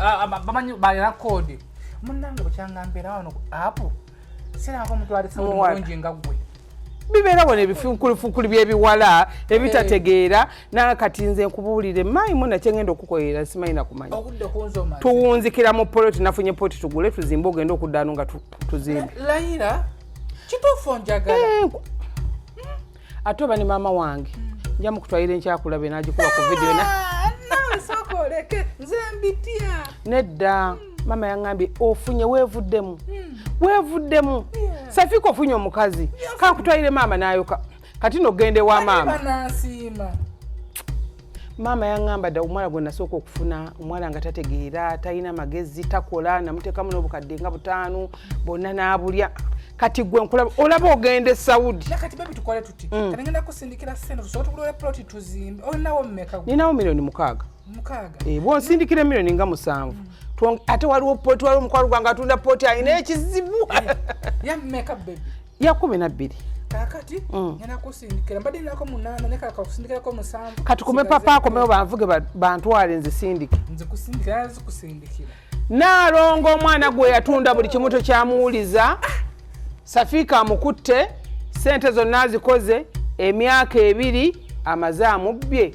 Ah, ah, bamanyi balina kodi munange bukyanga mbeera wano apu siranga omuntu ali sawulungi nga gwe bibeera wano ebifunkulifukuli byebiwala ebitategeera nanga kati nze nkubuulire maayi muna kyengenda okukoyera simanyi nakumanya tuwunzikira mu poloti nafunye poloti tugule tuzimbe ogenda okuddano nga tuzimbe kituufu njagala eh, ate oba ne maama wange nja mukutwalira enkyakulabe nagikuba ku vidiyo nedda maama yaŋambye ofunye weevuddemu hmm. weevuddemu safiika ofunye omukazi kankutwalire maama nayoka kati nogenda ewa maama maama yaŋŋamba dda omuwala gwe nasooka okufuna omuwala nga tategeera talina magezi takola namuteekamu n'obukadde nga butaano bonna n'abulya kati gwe nkulaba olaba ogenda e saudi kati bebi tukole tuti mm. kati ngenda kusindikira sente tusobola tugulole ploti tuzimbe olinawo mumeka ninawo miliyoni mukaaga mukaaga eh, bwonsindikira miliyoni nga musanvu mm. ate waliwo poti waliwo omukwalo gwange atunda poti alina ekizibu eh, ya kumi nabbiri kakati mm. ngenda kusindikira mbadde nako munaana naye kaka kusindikirako musanvu kati kume papa akomewo banvuge bantwale nzisindike nzikusindikira zikusindikira naalongo omwana gwe yatunda buli kimu tokyamuwuliza safiika amukutte sente zonna azikoze emyaka ebiri amaze amubbye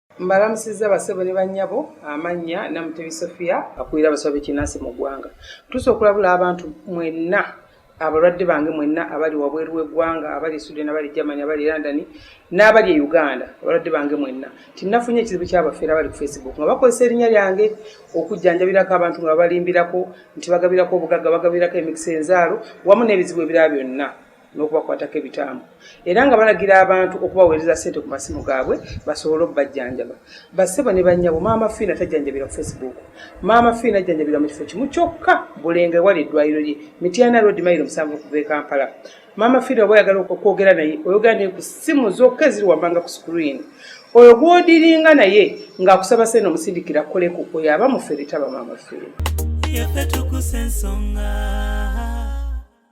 Mbalamusizza basebo ne bannyabo amannya Namutebi Sofia akulira abasawo b'ekinnansi mu ggwanga. Ntuuse okulabula abantu mwenna abalwadde bange mwenna abali wabweru w'eggwanga abali e Sweden abali e Germany abali e London n'abali e Uganda abalwadde bange mwenna nti nafunye ekizibu ky'abafeera abali ku Facebook nga bakozesa erinnya lyange okujjanjabirako abantu nga babalimbirako nti bagabirako obugagga bagabirako emikisa enzaalo wamu n'ebizibu ebirala byonna. n'okubakwatako ebitambo era nga balagira abantu okubaweereza ssente ku masimu gaabwe basobole okubajjanjaba bassebo ne bannyabo maama fiina tajjanjabira ku facebook maama fiina ajjanjabira mu kifo kimu kyokka bulenga ewali eddwaliro lye mityana road mairo musanvu okuva e kampala maama fiina oba oyagala okwogera naye oyogera naye ku ssimu zokka eziri wammanga ku screen oyo gwodiringa naye ng'akusaba sente omusindikira koleku oyo aba mufere taba maama fiina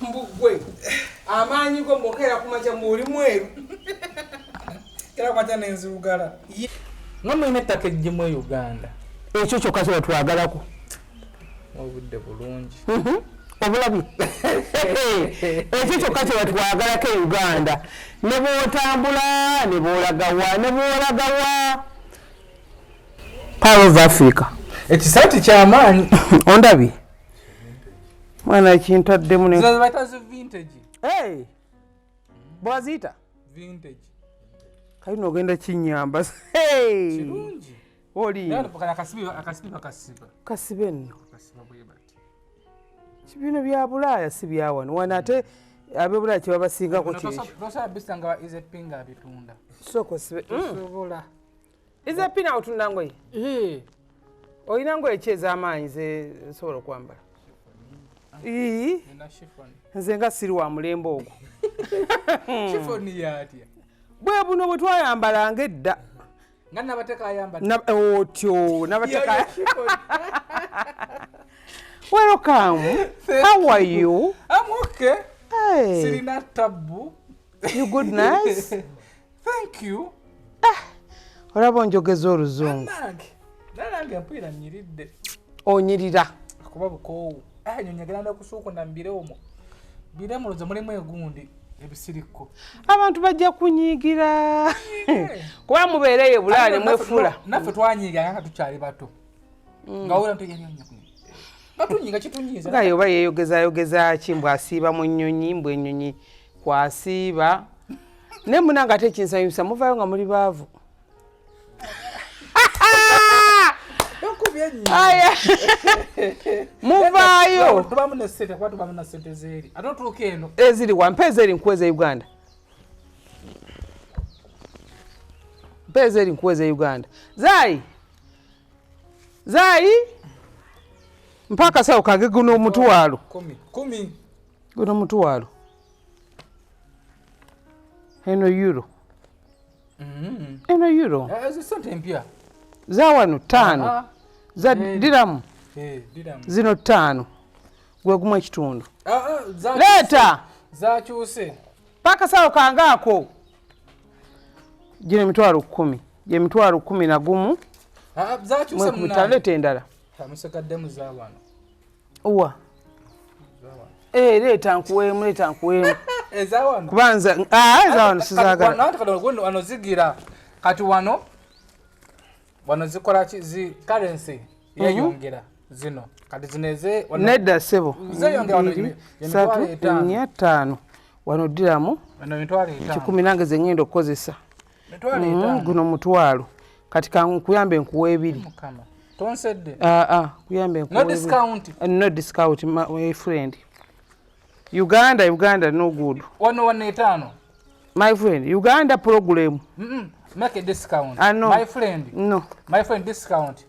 mbugwe amaanyi go mbokeera kumaja muuli mweru era kwata nenzirugala nga mulina ettaka ejjimu e uganda ekyo kyokka kye batwagalako obudde bulungi mhm. obulabi ekyo kyokka kye batwagalako e uganda ne bwotambula ne bwolagawa ne bwolagawa power of africa ekisaati kyamaanyi ondabye mwana ekintaddemu bwaziyita kalina ogenda kinyamba kasibe nno kibino bya bulaaya si byawano wano ate abebulaaya kyebabasingako kyekyo ize pina otunda ngoye eh. olina ngoye ki ez'amaanyi zesobola okwambala nze nga siri wa mulembe ogwo bwe buno bwe twayambalanga edda otyo nabateka welcome how are you I'm okay. hey. sirina tabbu you good nice Thank you. Ah, olaba onjogeza oluzungu. Nange mpulira nyiridde. Onyirira. Akuba bukoowu. Ah, nyo njagala ndakusuukunda mbire omwo. Bire muloza mulimu egundi. ebisirikko abantu bajja kunyiigira kuba mubeereyo bulaale mwefula naffe twanyiiga nga tukyali bato mm. nga wera ntoyanyonyakunaye oba yeyogezayogeza ki mbw asiiba mu nnyonyi mbw ennyonyi kwasiiba naye munange ate ekinsanyusa muvayo nga muli baavu muvaayo eziri wampa ezeri nkuweza uganda mpa ezeri nkuweza uganda zayi zayi mpa akasawo kage guno omutwalo guno omutwalo eno euro mm-hmm. eno euro eh, zawano taano ah, ah. za eh, diramu eh, zino taano gwegumu ekitundu ah, leeta zakyuse pakasawo kange ako gino emitwalo kumi gyemitwalo kumi nagumu mwekubitaleeta endala owa eh, leeta nkuweemu leeta nkuweemu kubanza ah, ezawano sizagalaano zigira kati wano wano zikola ki karensi mhm. yeyongera zino kati zino eze nedda sebo satu nya ttaano wano ddiramu kikumi nange zeŋenda okukozesa mm, guno mutwalo kati kankuyambe nkuwa ebiri tonsedde ah, ah, kuyambe nkuwa no discount eh, no discount my friend uganda uganda no good wano wano etaano my friend uganda program mm -mm. make a discount I ah, know. my friend no my friend discount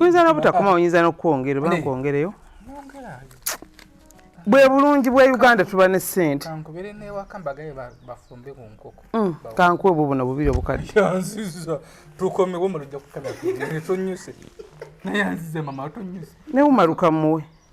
oyinza nobutakoma oyinza nokwongera oba nkwongereyo bwe bulungi bwa uganda tuba ne sente mm, kankuwe bwo buno bubiri obukadde newumaluka muwe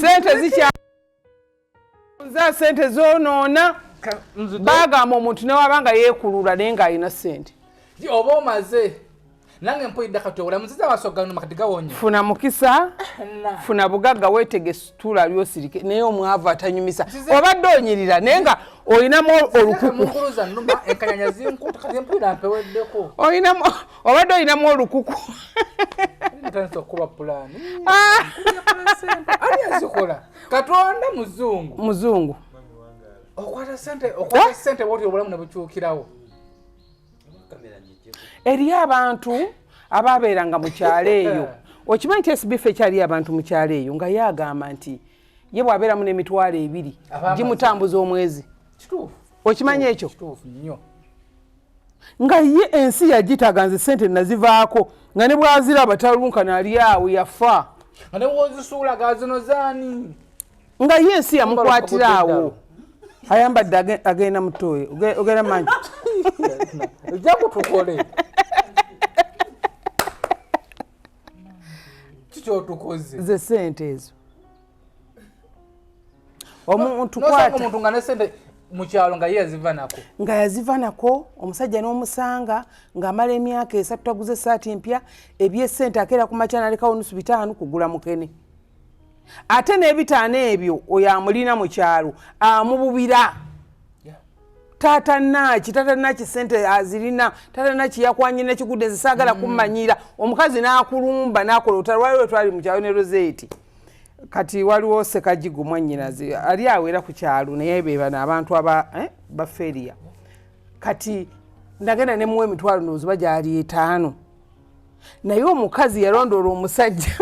sente zikya nza sente zonoona bagamba omuntu newaba nga yekulula naye nga alina sente oba omaze nange mpulidde kati obulamu nziza wasogano makati gawonye funa mukisa funa bugagga wetege situla lyosirike naye omwavu atanyumisa obadde onyirira naye nga olinamu olukuku olinamu obadde olinamu olukuku ntandise okukuba pulaani ah! ani azikola katonda muzungu muzungu okwata sente okwata ah! sente woti obulamu ne bukyukirawo eriyo abantu abaabeeranga mu kyalo eyo okimanyi nti esibifa ekyaliyo abantu mu kyalo eyo nga ye agamba nti ye bw'abeeramu n'emitwalo ebiri gimutambuza omwezi okimanyi ekyo nga ye ensi yagitaga nze sente nazivaako nga ne bwaziraba talunkana ali awo yafa nga ne bwozisuulaga zino zaani nga ye ensi yamukwatira awo ayambadde agenda mutoyo ogenda manyi ojja kutukole kikyotukoze ze sente ezo omuntu kwata omuntu nga nesente mukyalo nga yaziva nako nga yaziva nako omusajja n'omusanga ng'amala emyaka esatu taguze esaati empya ebyesente akeera ku makya nalekawo nusu bitaano kugula mukene ate n'ebitaano ebyo oyo amulina mu kyalo amububira taata naki taata naki sente azirina taata naki yakwanye nekigudde nze saagala mm. kummanyira omukazi n'akulumba n'akola otalwaliwo twali mu kyalo ne roseeti kati waliwo sekajigo mwanyinazi ali awo era ku kyalo naye bebano abantu aba eh, baferiya kati ndagenda nemuwa emitwalo noziba gyali etaano naye omukazi yalondoola omusajja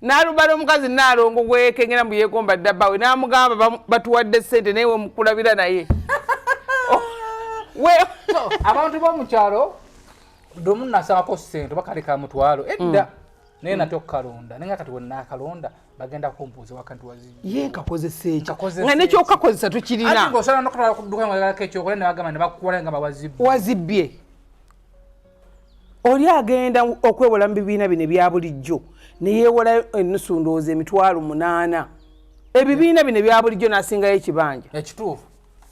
nalubala omukazi nalongo gwekengera mbu yegomba ddabawe namugamba batuwadde sente naye wemukulabira naye abantu bomukyalo domu nasabako sente bakaleka mutwalo edda mm. naye nate okukalonda naye nga kati wenaakalonda bagenda kumpuuza wakanti wazi ye nkakozesa ekyo nga nekyokakozesa tukirina osobola nokutwala kuduka ngaako ekyokola nebagamba nebakuwala nga bawazibbye wazibbye oli agenda okwewola mu bibiina bino ebya bulijjo neyewola enusu ndowooza emitwalo munaana ebibiina bino ebya bulijjo nasingayo ekibanja ekituufu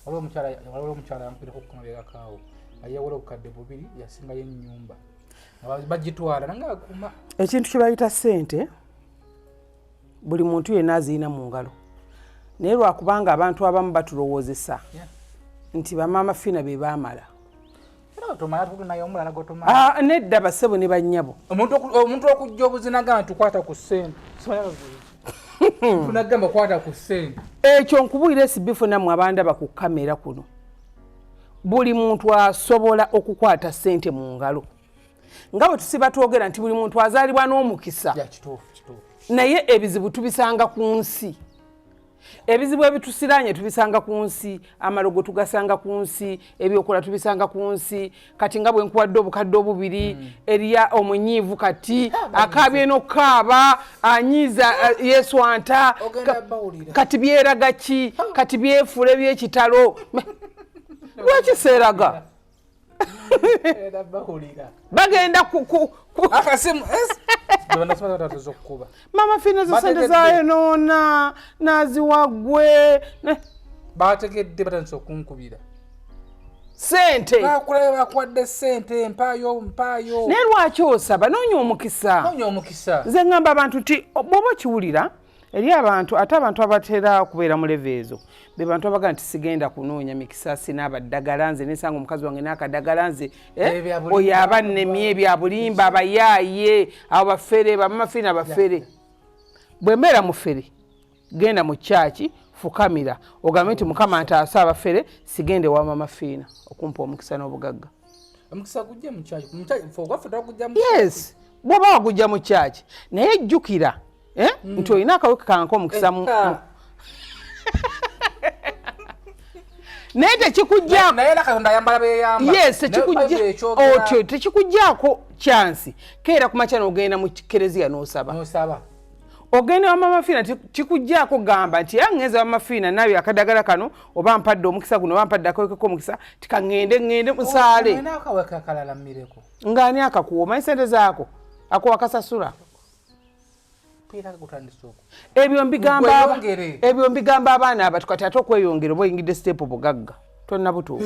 waliwo omukyala yampireko okukamabegakaawo ayewola obukadde bubiri yasingayo enyumba bagitwala nange akuma ekintu kyebayita sente buli muntu yenna azirina mu ngalo naye lwakubanga abantu abamu batulowoozesa nti bamaama fiina be baamala ah, nedda basebo ne bannyabo omuntu okujja obuzinaga nti kwata ku sente ekyo nkubuulira esibifu nammwe abandaba ku kamera kuno buli muntu asobola okukwata sente mu ngalo nga bwe tusiba twogera nti buli muntu azaalibwa n'omukisa naye ebizibu tubisanga ku nsi ebizibu ebitusiraanye tubisanga ku nsi amalogo tugasanga ku nsi ebyokola tubisanga ku nsi kati nga bwenkuwadde obukadde obubiri hmm. eriya omunyiivu kati akaabye nokukaaba anyiiza eh, yeswanta kati byeraga ki kati byefuula ebyekitalo lwaki seeraga bagenda mama fina zisente zayo noona naziwagwe bategedde batandisa okunkubira sente bakulayo bakuwadde sente mpaayo mpaayo naye lwaki osaba noonya omukisa noonya omukisa nze ŋŋamba abantu nti bwoba okiwulira eri abantu ate abantu abatera okubeera mu leve ezo be bantu abaga nti sigenda kunoonya mikisa sina abaddagala nze nesanga omukazi wange n'akadagala nze eh, oyo aba nnemye ebyabulimba abayaaye abo bafere bamamafere na bafere bwe mbeera mufere genda mu kyaki fukamira ogambe nti mukama ntaasa abafere sigende wa mama fiina okumpa omukisa n'obugagga yes bwoba wagujja mu kyaki naye jjukira eh, hmm. nti olina akaweke kanka omukisa eh, ah. naye tekikujjaotyo tekikujjaako kyansi keera kumakya nogenda mu kereziya nosaba ogenda wamamafiina kikujjaako gamba nti era ŋŋenza wamafiina naayo akadagala kano oba mpadde omukisa guno oba mpadde akawekeko omukisa tika ŋŋende ŋŋende oh, musaale ng'ani akakuwa omanyi sente zaako akuwa kasasula ebyo mbigamba ebyo mbigamba abaana abatu kati ate okweyongera oba oyingidde siteepu bugagga tonnabutuuka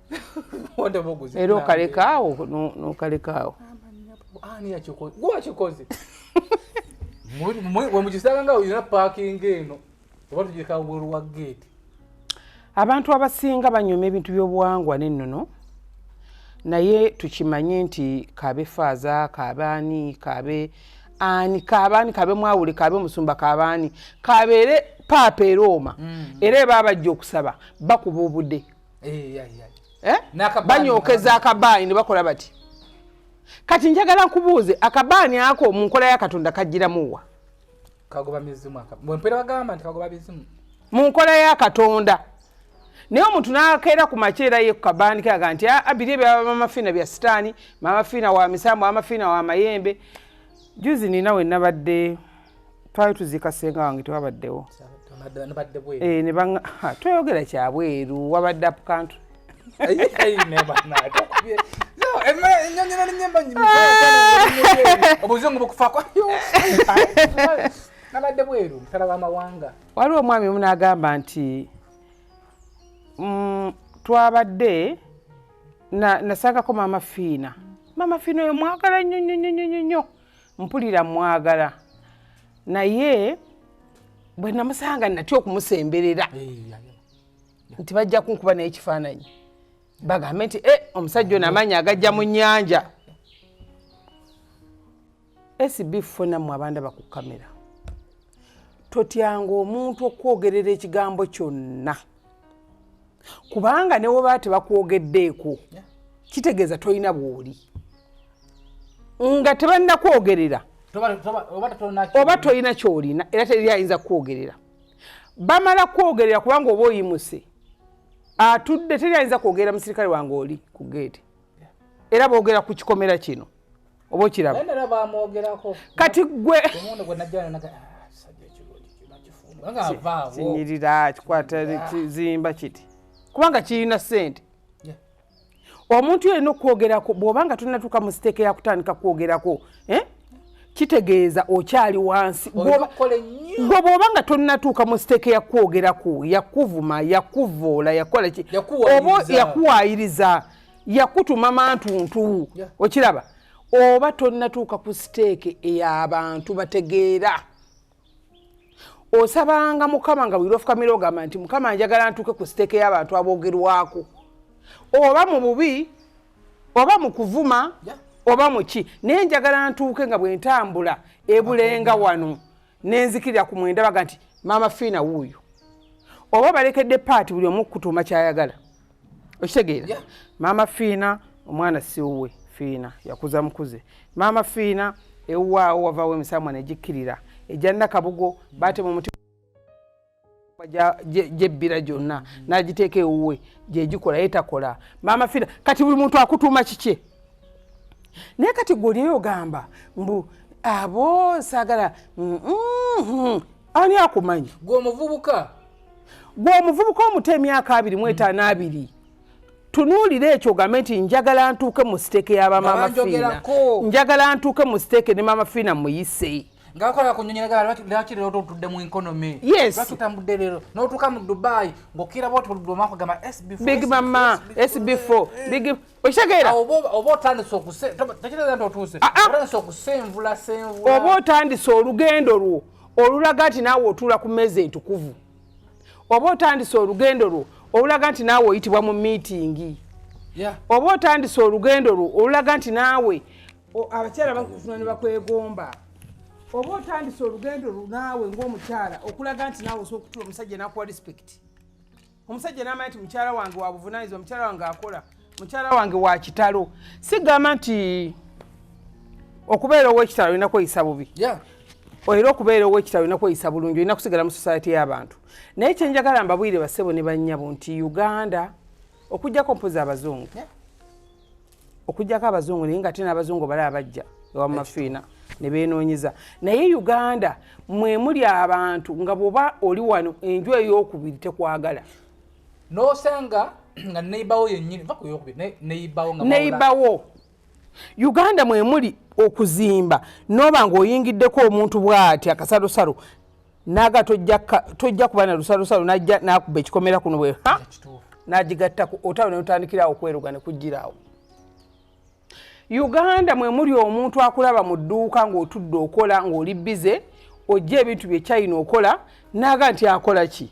era okalekaawo nokalekaawo gwakikoze wemugisanga nga olina paakinga eno oba tugireka wabweru wa geeti abantu abasinga banyuma ebintu by'obuwangwa n'ennono naye tukimanye nti kaabe faaza kaabe ani kaabe ani kaabe ani kaabe mwawule kaabe musumba kaabe ani kaabeere paapa erooma mm. era eba abajja okusaba bakuba obude eh, eh? banyookeza akabaani ne bakola bati kati njagala nkubuuze akabaani ako mu nkola ya katonda kajjiramuwa mu nkola ya katonda naye omuntu nakeera ku makyera ye kukabaani kaga nti ah, abiri ebyamamafiina bya sitaani mamafiina wa misambo amafiina wa mayembe juzi nina wenabadde twali tuziika senga wange tewabaddewo eh, tweyogera kyabweru wabadde apukantu obuzungu bukufako nabadde bweru mutala wamawanga waliwo omwami omu nagamba nti mm, twabadde nasangako maama fiina maama fiina oyo mwagala nnyo nnyo nnyo nnyo nnyo mpulira mwagala naye bwe namusanga natya okumusemberera nti bajja kunkuba naye ekifaananyi bagambe nti e omusajja ono amaanyi agajja mu nnyanja esb funamu abanda bakukamera totyanga omuntu okwogerera ekigambo kyonna kubanga ne webaba tebakwogeddeeko kitegeeza tolina bwoli nga tebalina kwogerera oba tolina kyolina era teri ayinza kukwogerera bamala kukwogerera kubanga oba oyimuse atudde teri ayinza kwogerera musirikale wange oli ku geeti era boogera ku kikomera kino oba okiraba kati gwe ah, kinyirira kikwata kizimba kiti kubanga kirina sente omuntu yalina okwogerako bwobanga tunatuuka mu siteeka yakutandika kwogerako eh? kitegeeza okyali wansi gwe bwoba nga tonatuuka mu siteeke yakwogeraku yakuvuma yakuvoola yakola ki oba yakuwayiriza yakutuma mantuntu okiraba oba tonatuuka ku siteeke eyabantu bategeera osabanga mukama nga bwira ofukamira ogamba nti mukama njagala ntuuke ku siteeke y'abantu aboogerwako oba mu bubi oba mu kuvuma oba mu ki naye njagala ntuuke nga bwe ntambula ebulenga wano nenzikirira ku mwenda baga nti maama fiina wuuyo oba balekedde paati buli omu kutuuma kyayagala okitegeera maama fiina omwana siwuwe fiina yakuza mukuze maama fiina ewuwaawo wavawo emisamwa negikkirira egya nakabugo baatema omuti gyebbira gyonna nagiteeka ewuwe gyegikola ye takola maama fiina kati buli muntu akutuuma kikye naye kati gwe olinaye ogamba mbu abo saagala mm, mm, mm. ani akumanyi gwe omuvubuka gwe omuvubuka omuto emyaka abiri mu etaano mm. abiri tunuulira ekyo ogambe nti njagala ntuuke mu siteeke ya bamaama fiina njagala ntuuke mu siteeke ne maama fiina muyise ngakola kunyonyeragala lwaki lero totudde mu economy lwaki otambudde lero notuuka mu dubai ngaokira botoludde omwaka gamba big mama sb4 okitegeera oba otandise okutekitegeera nti otuuse ah, ah. otandise okusenvula senvula oba otandise olugendo lwo olulaga nti naawe otuula ku mmeeza entukuvu oba otandise olugendo lwo olulaga nti naawe oyitibwa mu miitingi oba otandise olugendo lwo olulaga nti naawe abakyala bakufuna ne bakwegomba oba otandise olugendo lwo naawe ng'omukyala okulaga nti naawe osobola okutula omusajja nakuwa respect omusajja namanya nti mukyala wange wabuvunanyizibwa mukyala wange akola mukyala wange wakitalo sigamba nti okubeera owekitalo olina kweyisa bubi era okubeera owekitalo olina kweyisa bulungi olina kusigala mu society y'abantu naye kyenjagala mbabwire basebo ne bannyabo nti uganda okujjako mpozi abazungu yeah. okujjako abazungu naye nga ate n'abazungu bali abajja ewa mafiina ne beenoonyeza naye uganda mwe muli abantu nga bwoba oli wano enju ey'okubiri tekwagala n'osanga nga neyibawo yennyini va ku yokubiri neyibawo nga neyibawo uganda mwe muli okuzimba n'oba ng'oyingiddeko omuntu bw'ati akasalosalo naga tojja kuba na lusalusalu najja nakuba ekikomera kuno bwe nagigattaku otalo neutandikirawo okweruga nekugiraawo uganda mwe muli omuntu akulaba mu dduuka ng'otudde okola ng'oli bize ojja ebintu bye china okola naaga nti akola ki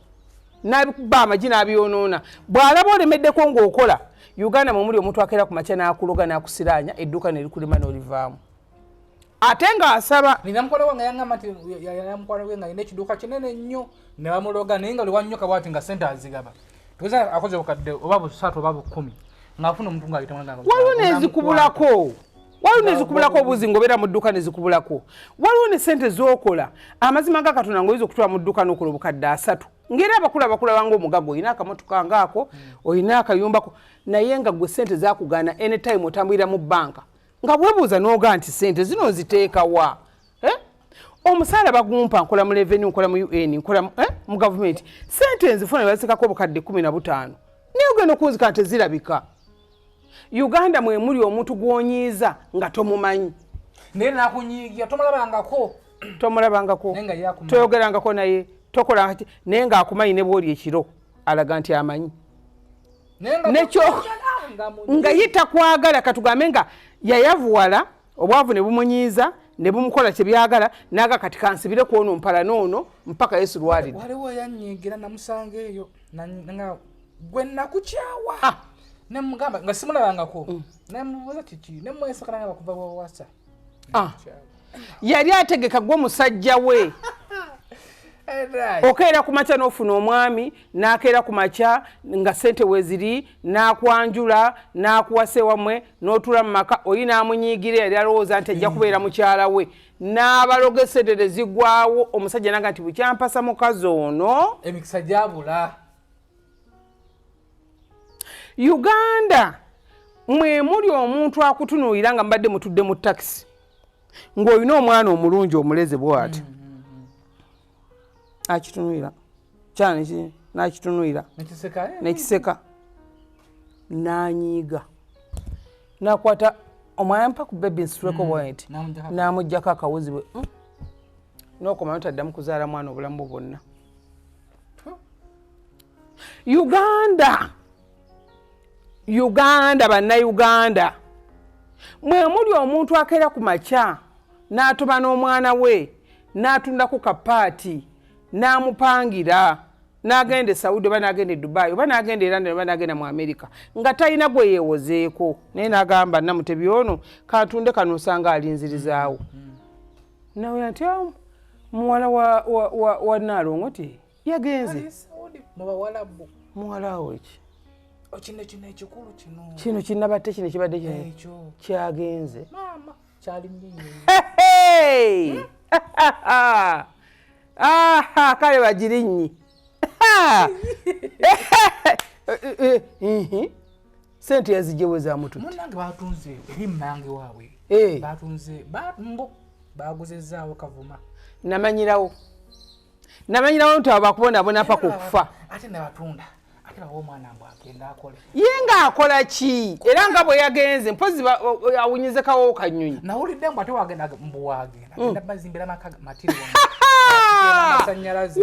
naba amagi n'abyonoona bw'alaba olemeddeko ng'okola uganda mwe muli omuntu akeera ku makya n'akuloga n'akusiraanya edduuka ne likulima n'olivaamu ate ng'asaba nina mukwano gwange yangamba nti yalina mukwano gwe nga yina ekiduuka kinene nnyo ne bamuloga naye nga liwannyo kabwati nga sente azigaba tuweza akoze bukadde oba busatu oba bukumi ng'afuna omuntu ng'ayitawaliwo nezikubulako waliwo nezikubulako obuzi ngaobeera mu dduka nezikubulako waliwo ne sente zokola amazima nga katonda ngaoyinza okutwala mu dduka nokola obukadde asatu ngaera abakulu abakulabanga omugaga olina akamotoka ngaako olina akayumbako naye nga gwe sente zakugana anytime otambulira mu banka nga bwebuuza noga nti sente zino nziteekawa eh? omusaala bagumpa nkola mu leveni nkola mu un nkola eh? mu gavumenti sente nzifuna basekako obukadde kumi na butaano naye ogenda okunzika nti zirabika uganda mwemuli omuntu gwonyiiza nga tomumanyi naye nakunyiigira tomulabangako tomulabangako toyogerangako naye tokola naye ngaakumanyi ne bwoli ekiro alaga nti amanyi nekyo nga ye takwagala katugambe nga yayavuwala obwavu ne bumunyiiza ne bumukola kye byagala naaga kati kansibire ku ono mpala noono mpaka yesu lwalidde waliwo yanyigira namusanga eyo nga gwe nakukyawa ah. nemugamba nga simulabangako mm. nemubuuza kiki nemwesakana nga bakuva wawasa ah. yali ategeka gwe musajja we okeera ku makya n'ofuna omwami n'akeera ku makya nga sente weziri n'akwanjula n'akuwasa ewamwe n'otuula mu maka oli n'amunyiigira yali alowooza nti ajja kubeera mukyala we n'abaloga esedere zigwawo omusajja naga nti bukyampasa mukazi ono emikisa gyabula uganda mwe muli omuntu akutunuulira nga mbadde mutudde mu takisi ng'olina omwana omulungi omuleze bwati mm, mm, mm. akitunuulira kyani nakitunuulira nekiseka nanyiiga nakwata omwana mpa ku bebi nsituleko bwati namugjako akawuzi bwe nokomayo taddamu kuzaala mwana obulamu bwonna uganda uganda bannauganda mwe muli omuntu akeera ku makya n'atuma n'omwana we n'atundaku kapaati n'amupangira n'agenda e saudi oba n'agenda e dubai oba n'agenda e london oba n'agenda mu amerika nga talina gwe yeewozeeko naye n'agamba namutebi ono katunde kano osanga alinzirizaawo mm -hmm. nawe atya muwala wa naalongo ti yagenze muwala awo eki oh, kino kino ekikulu kino kino kinabadde kino kibadde kyagenze kale bagirinnyi sente yazijewo za mutumunange batunze eri mumange waabwe eh. batunze mbo baguzezaawo kavuma namanyirawo namanyirawo nti abo bakubonabona paka okufa ate nabatunda ate bawa omwana mbu agenda akole ye nga akola ki era nga bwe yagenze mpozi awunyize kawowo kanyonyi nawulidde mbu ate wagenda mbu wagenda genda mm. bazimbira maka matiri amasanyalaze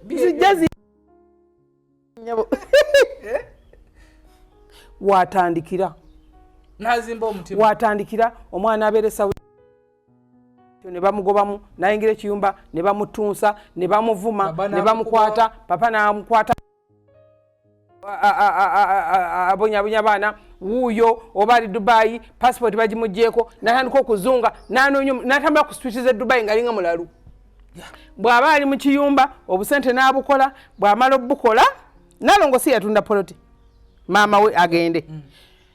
zijja zi eh? watandikira nazimba omutima watandikira omwana abeeresa ne bamugobamu nayingira ekiyumba ne bamutunsa ne bamuvuma ne bamukwata papa namukwata abonyabonya abaana wuuyo oba ali dubayi pasipoti bagimugyeko natandika okuzunga natambula ku switi ze dubayi nga alinga mulalu bw'aba ali mu kiyumba obusente n'abukola bw'amala obukola nalongo si yatunda poloti maama we agende mm.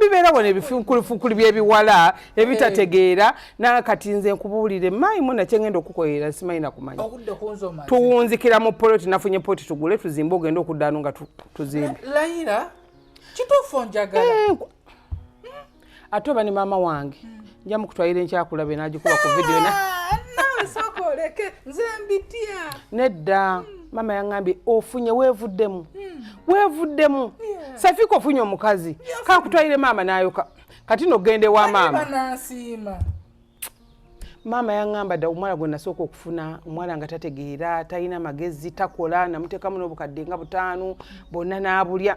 bibeera wano ebifunkulifunkuli byebiwala ebitategeera eh. naye kati nze nkubuulire maayi muna kyengenda okukoyera simanyi nakumanya tuwunzikira mu poloti nafunye poti tugule tuzimbe ogenda okuddano nga tuzimbe eh, ate oba ne maama wange hmm. nja mukutwalira enkyakulabe nagikuba ku vidiyo na nedda maama yaŋambye ofunye weevuddemu hmm. weevuddemu safiika ofunye omukazi kakutwalire maama nayoka kati nogenda ewa maama maama yaŋŋamba dda omuwala gwe nasooka okufuna omuwala nga tategeera talina magezi takola namuteekamu n'obukadde nga butaano bonna n'abulya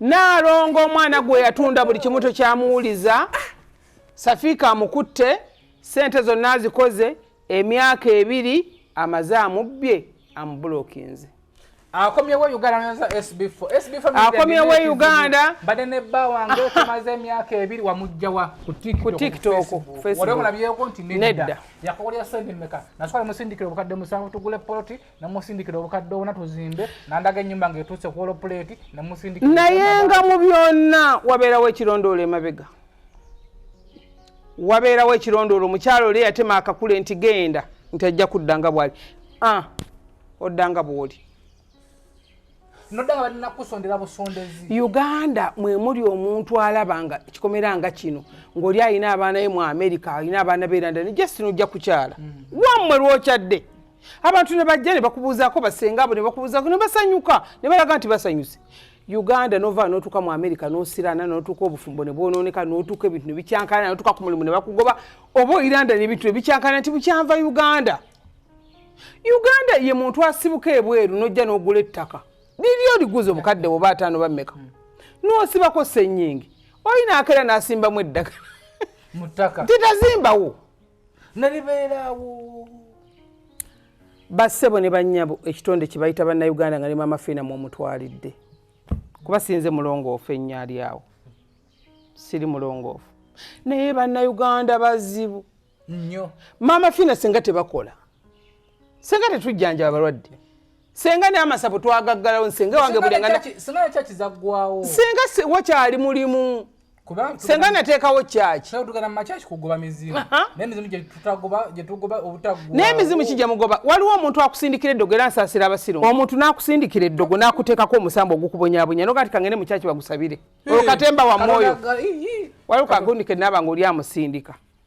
naalongo omwana gwe yatunda buli kimu tokyamuwuliza safiika amukutte sente zonna azikoze emyaka ebiri amaze amubbye amubulokinze akomyewo uganda akomyewo uganda mbadde ne bba wange tumaze emyaka ebiri wamugjawa ku tiktokolabyeko nti nedda yakokolya sente meka nasukala musindikira obukadde musanvu tugule poloti namusindikira obukadde obuna tuzimbe nandaga enyumba nga etuuse ku olopuleeti namusindikira naye nga mu byonna wabeerawo ekirondoolo emabega wabeerawo ekirondoolo omukyalo oli eyatema akakule nti genda nti ajja kudda nga bwali ah, odda nga bwoli uganda mwemuli omuntu alaba nga kikomera nga kino ngaoli alina abaana ye mu america alina abaana berandani just nojja kukyala mm. wamwe lwokyadde abantu ne bajja ne bakubuuzaako basenga abo ne bakubuuzaako ne basanyuka ne balaga nti basanyuse uganda nova notuuka mu america nosirana notuuka obufumbo nebwononeka notuuka ebintu nebikyankana notuuka ku mulimu nebakugoba oba oiranda nebintu nebikyankana nti bukyanva uganda uganda ye muntu asibuka ebweru nojja nogula ettaka liri oliguza omukadde woba ataano bameka nosibako senyingi oyina akera nasimbamu eddagala titazimbawo nalibeeraawo bassebo ne bannyabo ekitonde kye bayita bannayuganda nga ne maama fiina mwomutwalidde kuba sinze mulongoofu ennyo ali awo siri mulongoofu naye bannayuganda bazibu nnyo maama fiina singa tebakola singa tetujjanjaba balwadde senga naye amasavu twagaggalawo nsenga wange bulengana senga wakyali mulimu senga nateekawo kyaki naye emizimu kijja mugoba waliwo omuntu akusindikira eddogo era nsaasira abasiru omuntu n'akusindikira eddogo n'akuteekako omusambo ogukubonyabonya nogati kangende mu kyaki bagusabire olwo katemba wa mwoyo waliwo kagundi ke naaba nga oli amusindika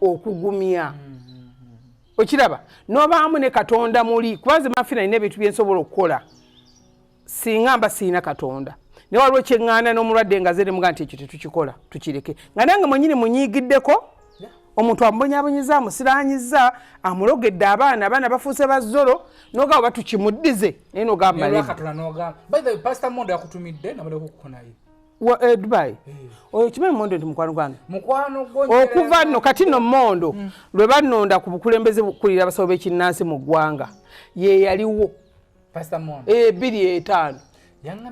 okugumya okiraba nobaamu ne katonda muli kuba nze mafina nina ebintu byensobola okukola singa mba siina katonda naye waliwo kyeŋŋaana n'omulwadde nga zeremuga nti ekyo tetukikola tukireke nga nange mwenyini munyiigiddeko omuntu amubonyabonyeza amusiranyiza amulogedde abaana abaana bafuuse bazolo nogamba batukimuddize naye nogamba wa eh, dubai eh. oyo kimanyi mondo nti mukwano gwange okuva nno kati no mondo hmm. lwe banonda ku bukulembeze bukulira abasawo b'ekinnansi mu ggwanga ye yaliwo ebiri eh, etaano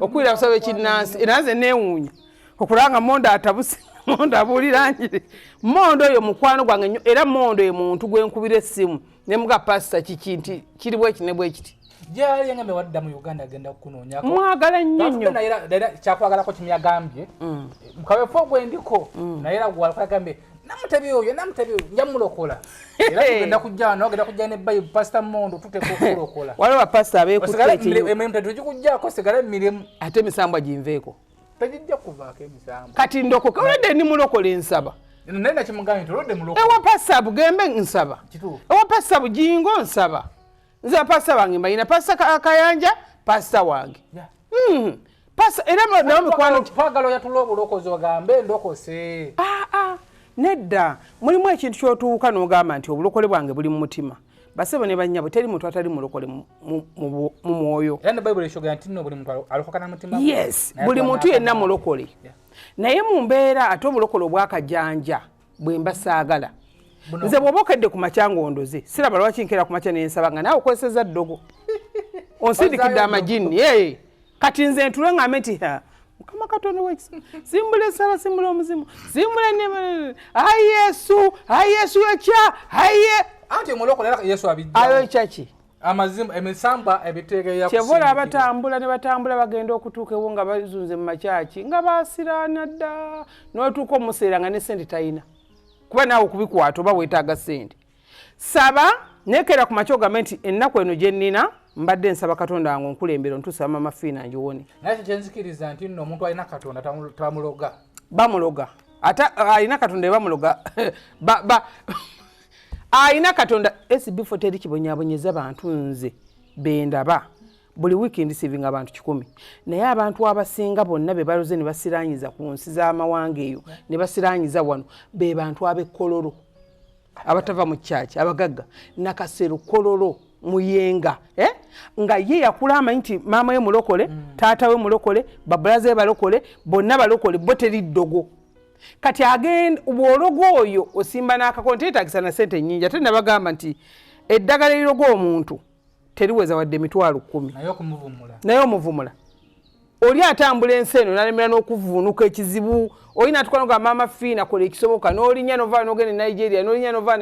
okukulira abasawo b'ekinnansi era nze neewuunya okulanga mondo atabuse mondo abuulira njiri mondo oyo mukwano gwange nnyo era mondo ye muntu gwe nkubira essimu ne muga pasita kiki nti kiri bweki ne bwekiti gyali engambe wadda mu uganda agenda kukunoonyako mwagala nnyo nnyo era kyakwagalako kimyagambye mm. mukawefo gwendiko mm. naye era gwalkwagambye namutebi oyo namutebi oyo nja mulokola era tugenda kujja wano ogenda kujja ne bayi pasita mondo tuteeka okulokola waliwo bapasita abeekuteekirimu emirimu tetugikujjako sigala emirimu ate emisambwa ginveeko tagijja kuvaako emisango kati ndokoka olwadde ndi mulokola ensaba naye nakimugambye nti olwadde mulokola ewa pasa bugembe nsaba ewa pasa bujingo nsaba nze pasa wange mbalina pasa kayanja pasa wange hmm. pasa era nawe mikwano twagala oyatula obulokozi ogambe ndokose ah, ah. nedda mulimu ekintu kyotuuka nogamba nti obulokole bwange buli mu mutima basebo ne banyabo teri muntu atali mulokole mu mwoyo era ne bible eshoga nti no buli muntu alokoka na mutima yes buli muntu yenna mulokole naye mu mbeera ate obulokole obwakajanja bwe mba saagala nze bwoba okedde ku makya ngaondoze siraba lwaki nkera ku makya nensaba nga naawe okozeseza ddogo onsindikidde amajinni kati nze ntule ngambe nti mukama katonda wekisa simbula esala simbula omuzimu simbula enema ayi yesu ayi yesu ekya aye anti omulokole era yesu abijjawo ayo ekyaki amazima emisamba ebitegeya kyebula abatambula ne batambula bagenda okutuuka ewo nga bazunze mu makyaki nga basiraana dda n'otuuka omuseera nga ne sente talina kuba naawe okubikwata oba weetaaga sente saba nekera ku makya ogambe nti ennaku eno gye nnina mbadde nsaba katonda wange onkulembera ontuusa mama fiina ngiwone naye kyo kyenzikiriza nti nno omuntu alina katonda tamuloga bamuloga ate alina katonda ebamuloga alina katonda esibifoto eri kibonyabonyeza bantu nze bendaba buli wiiki ndisivinga abantu kikumi naye abantu abasinga bonna be baloze ne basiranyiza ku nsi z'amawanga eyo ne basiranyiza wano be bantu ab'ekkololo abatava mu kyaki abagagga nakasero kololo muyenga eh? nga ye yakula amanyi nti maama we mulokole mm. taata we mulokole babulaze balokole bonna balokole bo teri ddogo kati agenda bwologo oyo osimba n'akako nti yetagisa na sente nyingi ate nabagamba nti eddagala eriroga omuntu teriweza wadde emitwalo kumi naye omuvumula oli atambula ensi eno nalemera n'okuvuunuka ekizibu oli natwala nga maama fiina kola ekisoboka n'olinya novaa nogenda e nigeria n'olinya novaa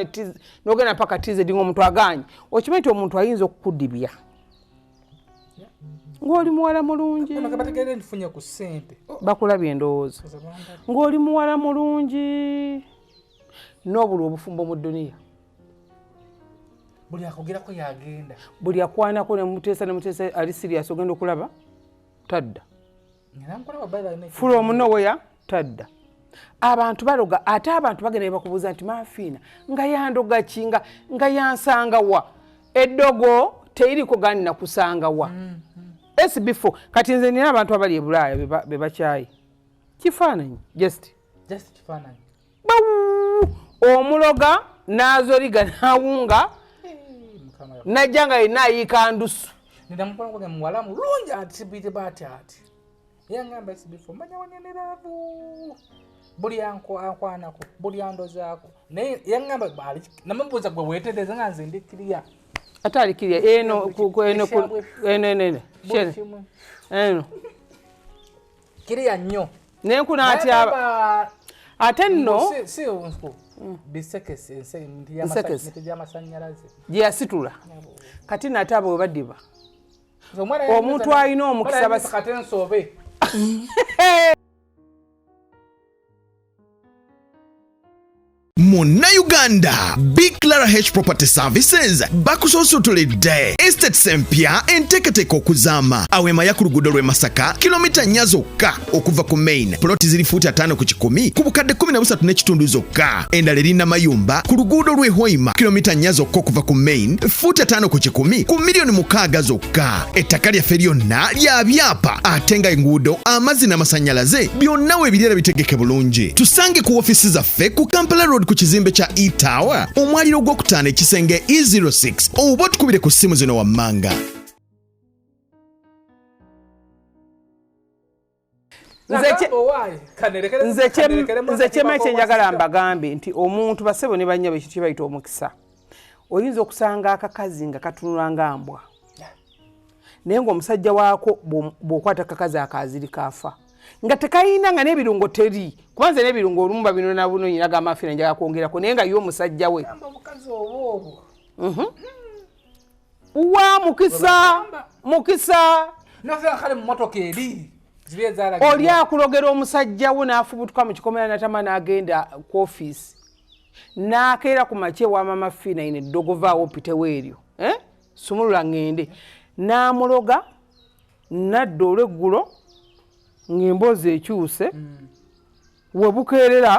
nogenda mpaka tizedi ngaomuntu aganye okimanyi nti omuntu ayinza okukudibya ng'oli muwala mulungi oh. bakulabye endowooza ng'oli muwala mulungi n'obulwa obufumbo mu duniya buli akogerako yagenda buli akwanako nemuteesa nemuteesa ali sirias ogenda okulaba tadda fula omunoweya tadda abantu baloga ate abantu bagenda nebakubuuza nti mafiina nga yandogaki nga nga yansangawa eddogo teyiriko gandi nakusangawa mm, mm. s before kati nze nina abantu abali ebulaaya bebakyayi kifaananyi just just kifaananyi omuloga n'azoliga n'awunga najja nga yenna ayiika ndusu nedamukolagage muwala mulungi atibite bati ati yangamba sibifo manya waneneravu buli ankwanako buli andozaako naye yangamba namubuuza gwe wetereza nga nze ndi kiriya ate ali kiriya eno eno eno eno kiriya nnyo naye nkunatyaba ate nno si nku bisekese ensekese gyamasanyalaze gyeyasitula kati nate abo webadiba omuntu alina omukisa basi kate nsobe munnayuganda bclara h property services bakusoosotolede estates empya enteekateeka okuzaama awo emaya ku luguudo lw'e masaka kilomita nnya zokka okuva ku main poloti ziri fuuti ataano ku kikumi ku bukadde 13 n'ekitundu zokka endala erinna mayumba ku luguudo lw'e hoima kilomita nnya zokka okuva ku main fuuti ataano ku kikumi ku miliyoni mukaaga zokka ettaka lyaffe lyonna lya byapa ate nga enguudo amazzi n'amasannyalaze byonna webireera bitegeke bulungi tusange ku ofiisi zaffe ku kampala road ku kizimbe kya etower omwaliro gw'okutaano ekisenge e06 oba otukubire ku ssimu zino wammanga nze kyema kyenjagala mbagambe nti omuntu basebo ne banyabo ekintu kyebayita omukisa oyinza okusanga akakazi nga katunula nga mbwa naye ngaomusajja waako bwokwata kakazi akaaziri kaafa nga tekayina nga n'ebirungo teri kuba nze n'ebirungo olumu babinona bunonyina gamafiira njaga kwongerako naye nga ye omusajja we mhm. wa mukisa mukisa naveakale mumotoka eri oli akulogera omusajja wo n'afubutuka mu kikomera natama n'agenda ku ofiisi n'akeera ku makya ewa mama fiina ine eddogovaawo pitewo eryo eh? sumulula ŋŋende n'amuloga nadda olweggulo ng'emboozi ekyuse mm. webukeerera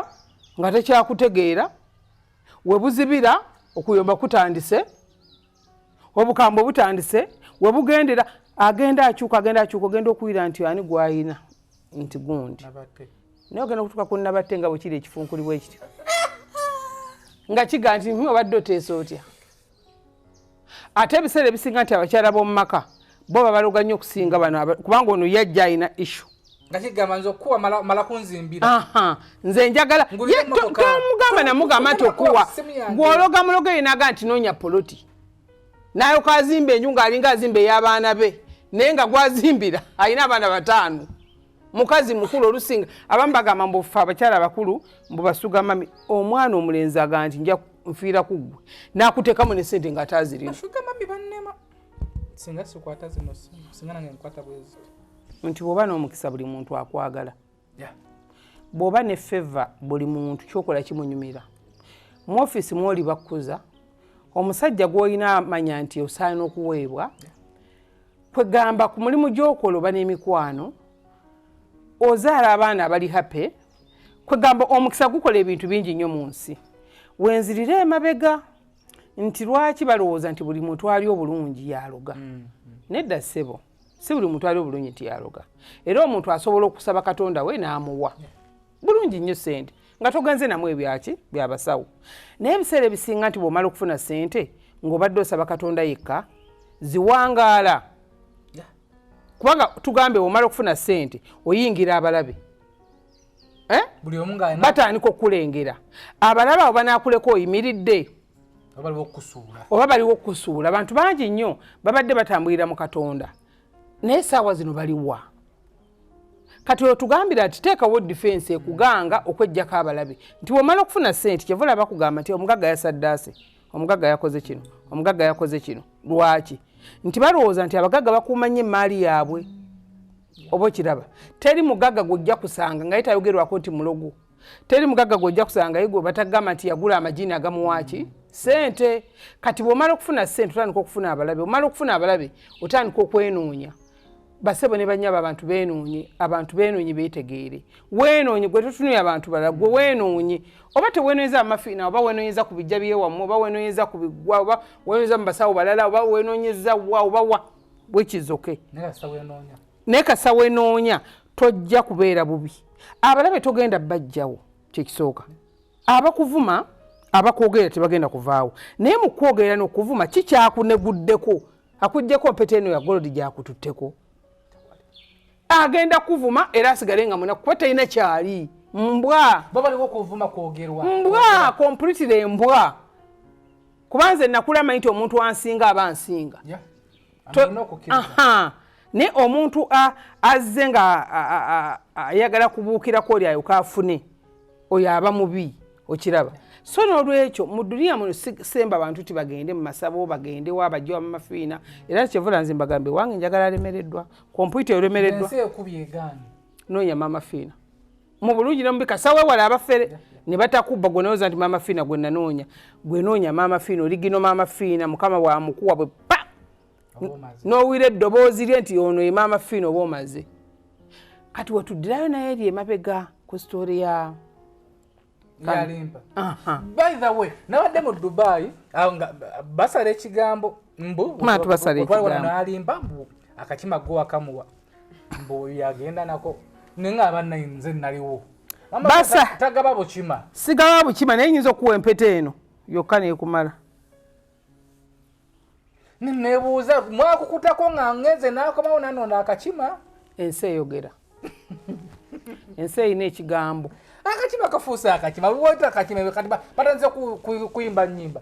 nga tekyakutegeera webuzibira okuyomba kutandise obukambwe butandise webugendera agenda akyuka agenda akyuka ogenda okuwira nti ani gwayina nti gundi naye ogenda okutuka ku nabatte nga bwekiri ekifunkulibwa ekityo nga kiga nti obadde oteesa otya ate ebiseera ebisinga nti abakyala b'omu maka bo babaloga nnyo okusinga bano kubanga ono yajja alina issu nze njagala tomugamba namugamba nti okuwa gwologa muloga eyenaga nti nonya poloti naye okazimba enju ngaalinga azimba ey'abaana be naye nga gwazimbira alina abaana bataano mukazi mukulu olusinga abamu bagamba mbu ffe abakyala abakulu mbu basuga mami omwana omulenzi agamba nti nja nfiira ku ggwe nakuteekamu ne sente nga ataazirina nti bwoba n'omukisa buli muntu akwagala bwoba ne feva buli muntu kyokola kimunyumira mu ofiisi mwoli bakkuza omusajja gwolina amanya nti osaana okuweebwa yeah. kwegamba ku mulimu gyokola oba n'emikwano ozaala abaana abali happy kwegamba omukisa gukola ebintu bingi nnyo mu nsi wenzirire emabega nti lwaki balowooza nti buli muntu ali obulungi yaloga mm, mm. nedda ssebo si buli muntu ali obulungi nti yaloga era omuntu asobola okusaba katonda we n'amuwa yeah. bulungi nnyo sente nga toganze namu ebyaki byabasawo naye ebiseera ebisinga nti bwomala okufuna sente ngaobadde osaba katonda yekka ziwangaala kubanga tugambe omala okufuna sente oyingira abalabe eh? batandika okukulengera abalabe abo banakuleka oyimiridde oba baliwo okukusuula abantu bangi nnyo babadde batambulira mu katonda naye saawa zino baliwa kati otugambira nti teekawo difensi ekuganga okwejjako abalabe nti womala okufuna sente kyeva olaba kugamba nti omugagga yasaddaase omugagga yakoze kino omugagga yakoze kino lwaki nti balowooza nti abagagga bakuuma nnyo emmaali yaabwe oba okiraba teri mugagga gwojja kusanga nga ye tayogerwako nti mulogo teri mugagga gwojja kusangayo gwe batagamba nti yagula amajini agamuwaaki sente kati bwomala okufuna sente otandika okufuna abalabe omala okufuna abalabe otandika okwenoonya basebo ne banyaba abantu benoonye abantu benoonye betegeere wenoonye gwe totunuye abantu balala gwe wenoonye oba tewenoonyeza amafiina oba wenoonyeza ku bijja byewamu oba wenoonyeza ku bigwa oba wenoonyeza mu basawo balala oba wenoonyeza wa oba wa bwekizoke naye kasa wenoonya tojja kubeera bubi abalabe togenda bajjawo kyekisooka abakuvuma abakwogera tebagenda kuvaawo naye mu kwogera nokuvuma kikyakuneguddeko akujjako mpeta eno ya golodi gyakututteko agenda kuvuma era asigale nga munaku kuba talina kyali mbwa mbwa kompulitire mbwa kuba nze nakula manyi nti omuntu ansinga aba nsinga naye omuntu azze nga ayagala kubuukirako oli ayoka afune oyo aba mubi okiraba so nolwekyo mu duniya muno sisemba bantu ti bagende mu masabo bagende wa bajja wa mamafiina era kyevula nze mbagambe wange njagala alemereddwa kompyuta eremereddwa noonya mamafiina mu bulungi ne mubika sawewala abafere ne batakubba gwe nawoza nti maama fiina gwe nanoonya gwe noonya maama fiina oligino maama fiina mukama wamukuwa bwe pa n'owira eddoboozi lye nti ono ye maama fiina oba omaze kati wetuddirayo naye eri emabega ku sitoori ya yalimba by the way nabadde mu dubai nga basala ekigambo mbu alimba mbu akakima go wakamuwa mbu yagenda nako naye nga abanna nze naliwo basa tagaba bukima sigaba bukima naye nyinza okuwa empeta eno yokka nekumala nebuuza mwakukutako nga ngenze nakomawo nanona akakima ensi eyogera ensi erina ekigambo akakima kafuuse akakima wota akakima batanze kuyimba nyimba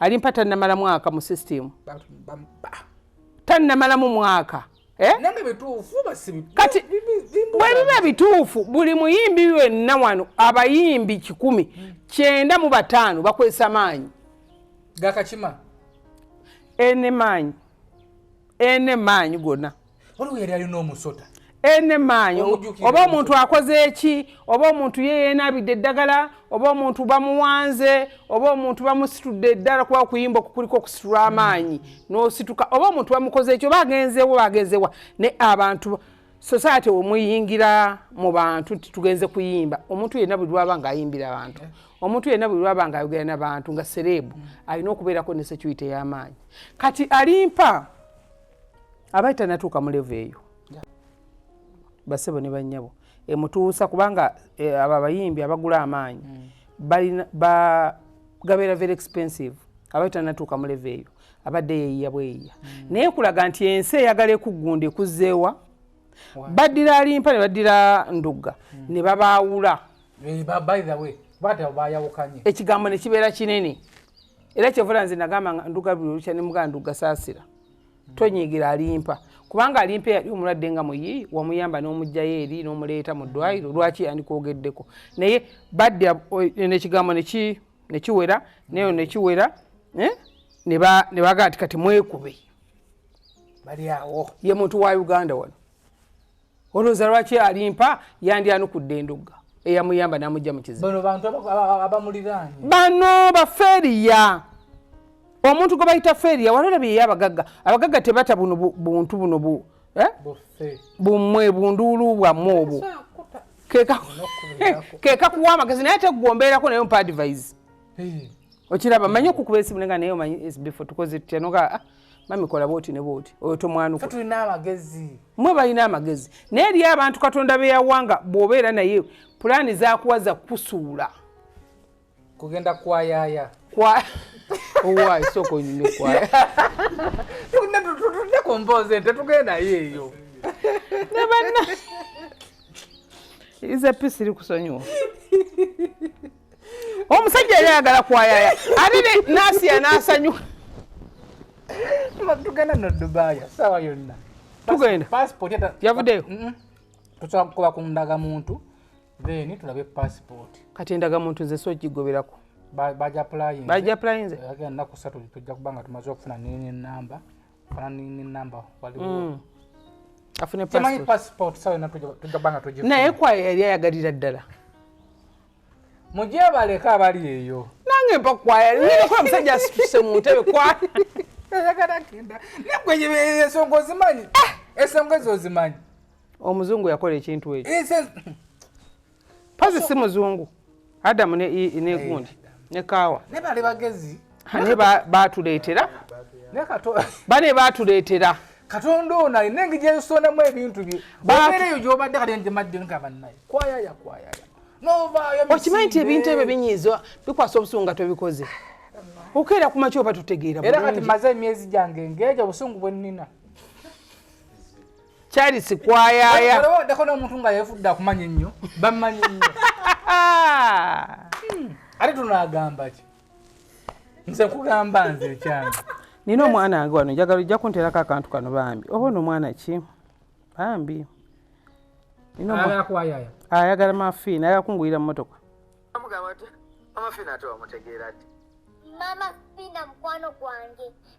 alimpa tannamala mwaka mu system tannamalamu mwaka eh? kati bwebiba bituufu buli muyimbi wenna wano abayimbi kikumi hmm. kyenda mu bataano bakwesa maanyi gakakima enemaanyi ene maanyi gona waliwo yali alina omusota ene maanyi oba omuntu akoze eki oba omuntu ye yenabidde eddagala oba omuntu bamuwanze oba omuntu bamusitudde eddala kuba okuyimba okukuliko okusitula amaanyi nosituka oba omuntu bamukoze eki oba agenzewo agenzewa ne abantu society omuyingira mu bantu nti tugenze kuyimba omuntu yenna buli lwaba nga ayimbira abantu omuntu yenna buli lwaba nga ayogera nabantu nga sereebu mm. alina okubeerako ne security ey'amaanyi kati alimpa abaali tanatuuka mu levo eyo basebo ne bannyabo emutuusa kubanga e, abo abayimbi abagula amaanyi mm. gabeera very expensive abaali tanatuuka mu levo eyo abadde yeyiya bweyiya mm. naye kulaga nti ensi eyagala ekuggunda ekuzzeewa baddira alimpa ne baddira ndugga hmm. ne babaawula eh, ekigambo ne kibeera kinene era kyevula nze nagamba nga nduga buli olukya ne mugaa ndugga saasira hmm. tonyigira alimpa kubanga alimpa eyali omulwadde nga muyi wamuyamba n'omugjayo eri n'omuleeta mu ddwaliro hmm. lwaki yandikwogeddeko naye baddira eh, nekigambo nekiwera nayo nekiwera eh, ne bagaa nti kati mwekube bali awo ye muntu wa uganda wano olowooza lwaki alimpa yandyanukudde endugga eyamuyamba namujja mu kizibu bano bafeeriya omuntu gwe bayita feeriya walolabyeyo abagagga abagagga tebata buno buntu buno bu eh? bumwe bunduulu bwammwe obwo kekakuwa amagezi naye tegwombeerako naye mpa advise okiraba manyi okukuba esimu nenga naye omanyi sbefore tukoze tutya noga ah, mami kola bwoti ne bwoti oyo tomwanuka tulina amagezi mwe balina amagezi naye eriyo abantu katonda beyawanga bwobeera naye pulaani zakuwaza kusuula kugenda kwayaya kwa owayi soko nyine kwaya tutunde ku mboozi ente tugendayo eyo nabanna iza pisi iri kusonyiwa omusajja yali ayagala kwayaya ate nasiya nasanyuka tugenda no dubaaya sawa yonna tugenda passport yavudeyo tusobola kukoba ku ndagamuntu then tulabe passport kati endagamuntu nze sogigoberako bajapulayinzenaku satu tujja kuba nga tumaze okufuna nenamba fana nenamba waliwo mm. afunemanyi passport sawa yonna tujja kuba nga tugi naye kwayo yali ayagalira ddala mugyebaleka abali eyo nange mpakwaya nkola musajja asituse mu ntebe kwayagalagenda nakweyebeesonga ozimanyi eh! esonga ezo ozimanyi omuzungu yakola ekintu ekyo pazi si muzungu adamu negundi ne kaawa naye bali bagezi bane batuleetera bane batuleetera katonda ono alina engeri gyensondamu ebintu bye babeereyo gyobadde kati nti madde nga bannaye kwayaya kwayaya okimanyi nti ebintu ebyo binyiiza bikwasa obusungu nga tobikoze okeera ku makyoba tutegeera era kati maze emyezi gyange ngeeja obusungu bwe nnina kyali sikwayayaddako n'omuntu nga yefudde akumanya ennyo bammanyi nnyo hmm. ate tunaagamba ki nze kugamba nze ekyange nina omwana wange wano njagala ojja kunterako akantu kano bambi oba ono omwana ki bambi ayagala mafiina ayagala kungulira mu motoka mama fina mukwano gwange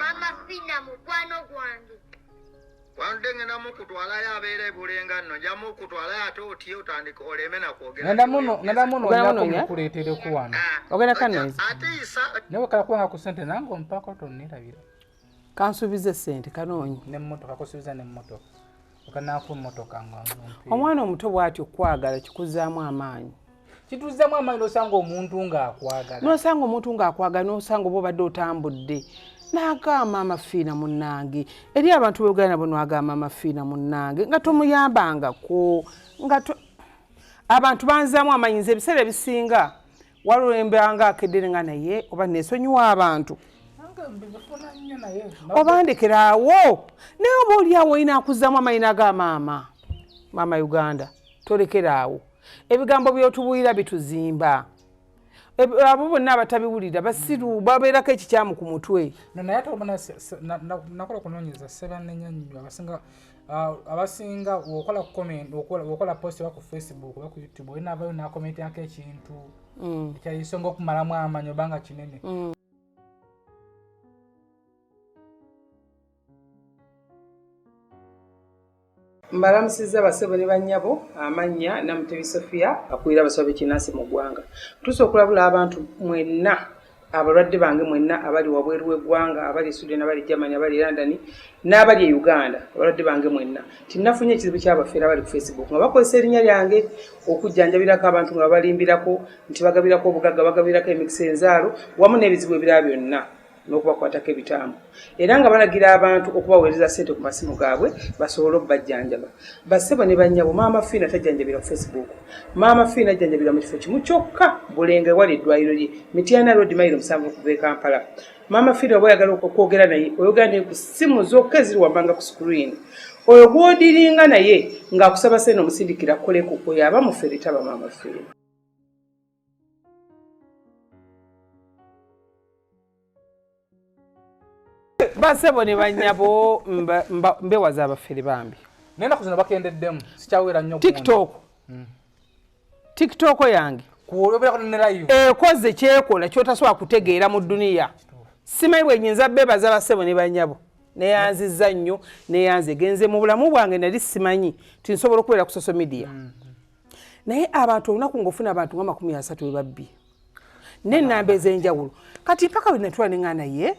mama fina mukwano gwange wanudde ngenda mukutwalayo abeera ebulenga nno nja mukutwalayo ate otye otandika oleme nakwogerakuleetereko wano ah, ogenda kanonzi ate isa nawe kalakuwanga ku sente nange ompako tonnerabira kansuubize sente kanoonyi nemmotoka kusuubiza nemmotoka omwana omuto bwati okukwagala kikuzaamu amaanyi kituzzamu amaanyi nosanga omuntu ngaakwagala nosanga omuntu ngaakwagala nosanga oba obadde otambudde nagamba amafiina munange eri abantu beugala nabo nagamba amafiina munange nga tomuyambangako nga abantu banzamu amanyinza ebiseera ebisinga walulemba nga akedere nga naye oba nesonyiwa abantu obandekerawo naye oba oliawo olina akuzamu amayina ga maama maama uganda tolekeraawo ebigambo byotubulira bituzimba abo bonna abatabiwulira basiru babeerako ekikyamu ku mutwe naye ate obona nakola okunonyeza sebanenya nyo abasinga Ah, abasinga wokola comment wokola post oba ku facebook oba ku youtube olina avayo nakomentako ekintu mm. ekyayisonga okumalamu amanyi obanga kinene mm. mbalamusiza basebo ne banyabo amannya namutebi sofia akulira abasawo bekinansi mu ggwanga tusa okulabula abantu mwenna Abalwadde bange mwenna abali wabweru w'eggwanga, abali e Sweden, abali e Germany, abali e London n'abali e Uganda, abalwadde bange mwenna, nti nafunye ekizibu ky'abafeera abali ku Facebook nga bakozesa erinnya lyange okujjanjabirako abantu nga babalimbirako nti bagabirako obugagga, bagabirako emikisa enzaalo wamu n'ebizibu ebirala byonna n'okubakwatako ebitambo. era nga balagira abantu okubaweereza ssente ku masimu gaabwe basobole okubajjanjaba bassebo ne bannyabo maama fiina tajjanjabira ku facebook maama fiina ajjanjabira mu kifo kimu kyokka bulenga ewali eddwaliro lye mityana road mairo musanvu okuva e kampala maama fiina oba oyagala okwogera naye oyogera naye ku ssimu zokka eziri wammanga ku screen oyo gwodiringa naye ng'akusaba sente omusindikira koleku oyo aba mufere taba maama fiina basebo ne banyabo mbewaza abafere bambi naye naku zino bakendeddemu sikyawera nnyo tiktok hmm. tiktok yange ekoze kyekola kyotasobola kutegeera mu duniya simanyi bwenyinza bebaza basebo ne banyabo neyanziza nnyo neyanze genze mu bulamu bwange nali simanyi tinsobola okubeera ku social media mm. naye abantu olunaku ngaofuna abantu nga makumi asatu webabbi nenamba ezenjawulo kati mpaka wenatula nenga naye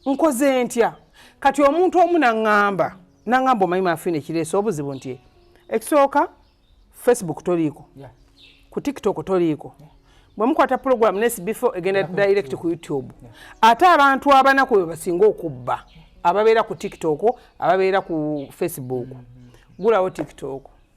nkoze ntya kati omuntu omu naŋamba naŋamba omanyi mafina ekireesa obuzibu nti ekisooka facebook toliiko ku tiktok toliiko bwemukwata program nesi before egenda direct ku youtube ate abantu abanaku bebasinga okubba ababeera ku tiktok ababeera ku facebook mm-hmm. gulawo tiktok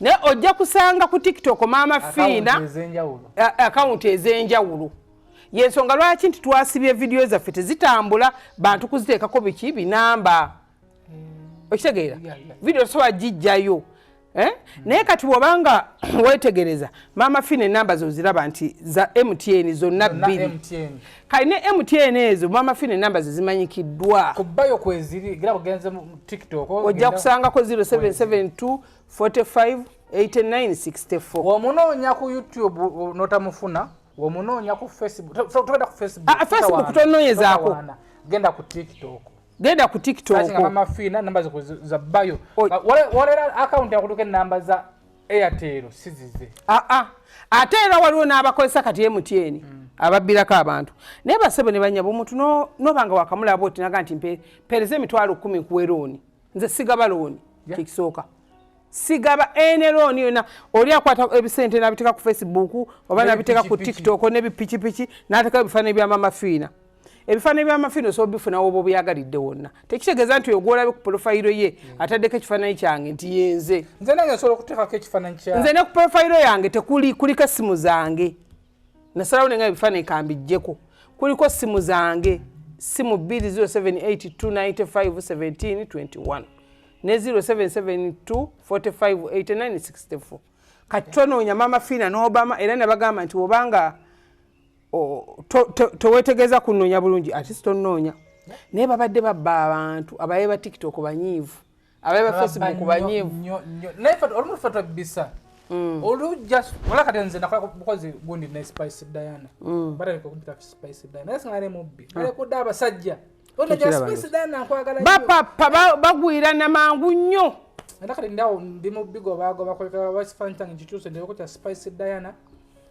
naye ojja kusanga ku tiktok maama fiina akawunti ez'enjawulo yensonga lwaki nti twasibye vidiyo zaffe tezitambula bantu kuziteekako biki binamba hmm. okitegeera vidiyo tosobola gijjayo eh? hmm. naye kati bwoba nga wetegereza maama fiina enamba zoziraba nti za mtn zonna bbiri kali ne mtn ezo mama fine namba zezimanyikiddwa kubayo kweziri gira bugenze mu tiktok ojja kusangako 0772 45 8964 omunoonya ku youtube notamufuna omunoonya ku facebook togenda ku facebook ah, facebook tononyezako genda ku tiktok genda ku tiktok mama fina namba zabayo walera akawunti akutuka enamba za Airtel sizize. Ah ah. Ate era waliwo n'abakozesa kati MTN mm. ababbirako abantu. Naye basebo ne banyabo omuntu no no banga wakamula abo tinaga nti mpe pereze mitwalo 10 kuwe loan. Nze sigaba loan. Yeah. Kikisooka. Sigaba ene loan yona oli akwata ebisente nabiteka ku Facebook oba nabiteka ku TikTok ne bipichi pichi nateka ebifana ebya mama fina. ebifaananyi byamafiino osobola bifuna woba obyagalidde wonna tekitegeeza nti oyo gwolabe ku polofayiro ye hmm. ataddeko ekifaananyi kyange nti yenze nze nange nsobola okuteekako ekifaananyi kya nze ne ku polofayiro yange tekuli kuliko essimu zange nasalawo nenga ebifaananyi kambijjeko kuliko essimu zange ssimu 20782951721 ne 0772458964 kati tonoonya maama fiina n'obama era nabagamba nti obanga tewetegeeza kunoonya bulungi ati sitonoonya naye babadde babba abantu abaye ba tiktok banyiivu abaye ba facebook banyiivu Mm. olu just wala kati nze nakola bukozi gundi ne spice diana mm. bata ko kumpita spice diana nasi ngale mubbi ale ah. ko daba sajja ona ja spice diana nkwagala ba papa bagwira na mangu nnyo enda kati ndawo ndi mubbi go bago bakoleka wasifanta ngituse ndeko kya spice diana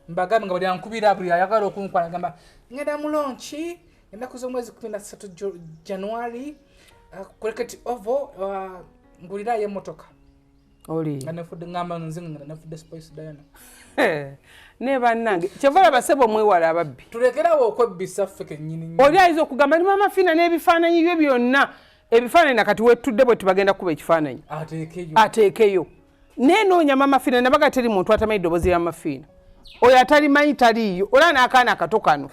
mbagambye nga buli ankubira buli ayagala okunkwala agamba ngenda mu lonki ennaku z'omwezi kumi na ssatu january uh, kureketi ovo uh, ngulirayo emotoka ne bannange kyova laba sebo mwewala ababbi tulekerawo okwebbisa ffe kenyini oli ayinza okugamba ni mama fina n'ebifaananyi bye byonna ebifaananyi nakati wetudde bwe tubagenda kukuba ekifaananyi ateekeyo nenoonya mama fiina nabaga teri muntu atamanyi ddobozi ya mafiina oyo atalimanyi taliiyo olaba n'akaana akato kano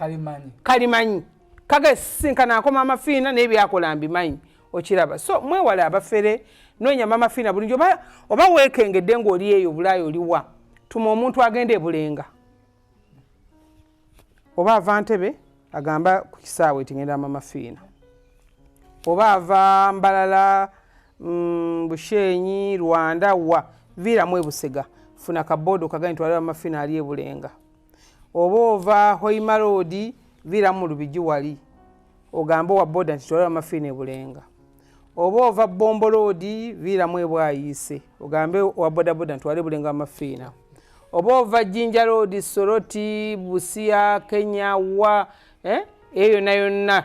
kalimanyi kaga sisinkana ako mama fiina naye byakola mbimanyi okiraba so mwewale abafere noonya mama fiina bulingi oba, oba weekengedde ng'oli eyo obulaayi oliwa tuma omuntu agenda ebulenga oba ava ntebe agamba ku kisaawe tingenda mama fiina oba ava mbalala mm, bushenyi rwanda wa viiramu ebusega funa kaboodo kagani twale mama fiina ali ebulenga oba ova hoimaroodi viiramu mu lubigi wali ogambe owa boda nti twale mama fiina ebulenga oba ova bomboloodi viiramu ebwayiise ogambe owa bodaboda ntwale bulengo amafiina oba ova jinja loodi soroti busia kenya wa eh, eyo yonna yonna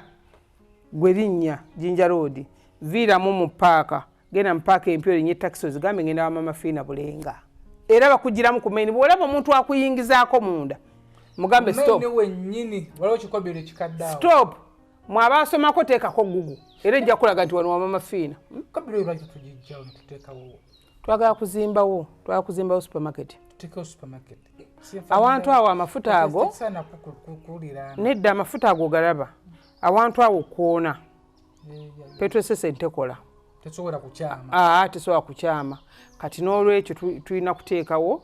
gwe linnya jinja loodi viiramu mu paaka genda mu paaka empya olinye takisi ozigambe ngenda wamamafiina bulenga era bakugiramu ku maini bwolaba omuntu akuyingizaako munda mugambe stop stop mwaba asomako teekako gugu era ejja kulaga nti wano wamama fiina hmm? twagala kuzimbawo twagala kuzimbawo supermarket awantu awo amafuta ago nedda amafuta ago galaba awantu awo kwona petwesese ntekola tesobola kukyama ah, kati n'olwekyo tulina kuteekawo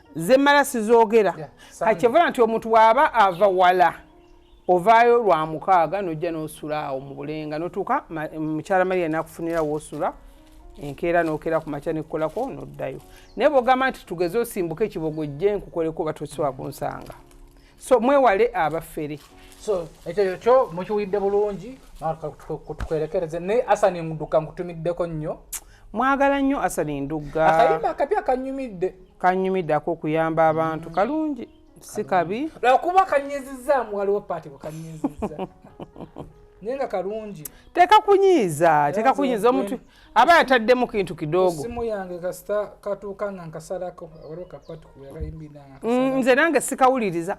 zemmala sizogera kakyevola nti omuntu bwaba ava wala ovaayo lwa mukaaga nojja nosula awo mu bulenga notuuka mukyala maria nakufunira wosula enkeera nokera ku makya nekukolako noddayo naye bwogamba nti tugeze osimbuke ekibogo jje nkukoleko oba tosobola kunsanga so mwewale abafere so ekyo kyo mukiwulidde bulungi tukwerekereze naye asani nduka nkutumiddeko nnyo mwagala nnyo asali ndugga akayimba akapya kanyumidde kanyumidde akokuyamba abantu mm. kalungi si kabi lwakuba kanyizizaamu waliwo paati bwekanyiziza naye nga kalungi teka kunyiiza teka kunyiiza omuntu aba yataddemu kintu kidogo simu yange kasita katuuka nga nkasalako waliwo kapati kuyakayimbi mm, nze nange sikawuliriza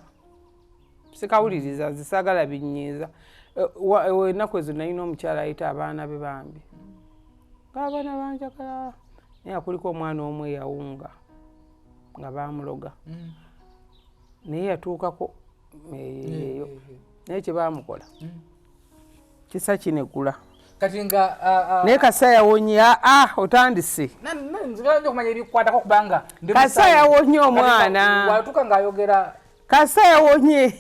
sikawuliriza nze saagala binyiiza eh, eh, ennaku ezo nalina omukyala ayita abaana be bambi ngaabaana banjagala naye akuliko omwana omu eyawunga nga baamuloga mm. naye yatuukako eyo naye kyebamukola mm. kisa kinegula kati nga naye kasa yawonye aa ah, ah, otandise kasa yawonye omwana watuuka ngaayogera kasa yawonye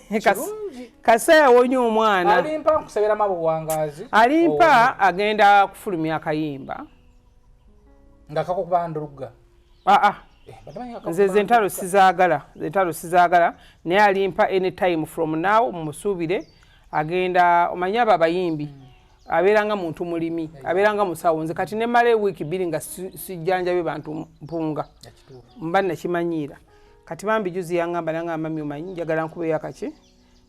kasa yawonye omwana alimpa nkusabira mabuwangazi alimpa agenda kufulumya akayimba nga kakokubanduluga aa ah, ah. eh, nze zentalo sizagala zentalo sizagala naye alimpa any time from now mumusuubire agenda omanyi abo abayimbi mm. abeera nga muntu mulimi abeera nga musawo nze kati nemala ewiiki bbiri nga sijjanjabe bantu mpunga mba nakimanyiira kati bambi juzi yangamba nanga amami omanyi njagala nkubeyo akaki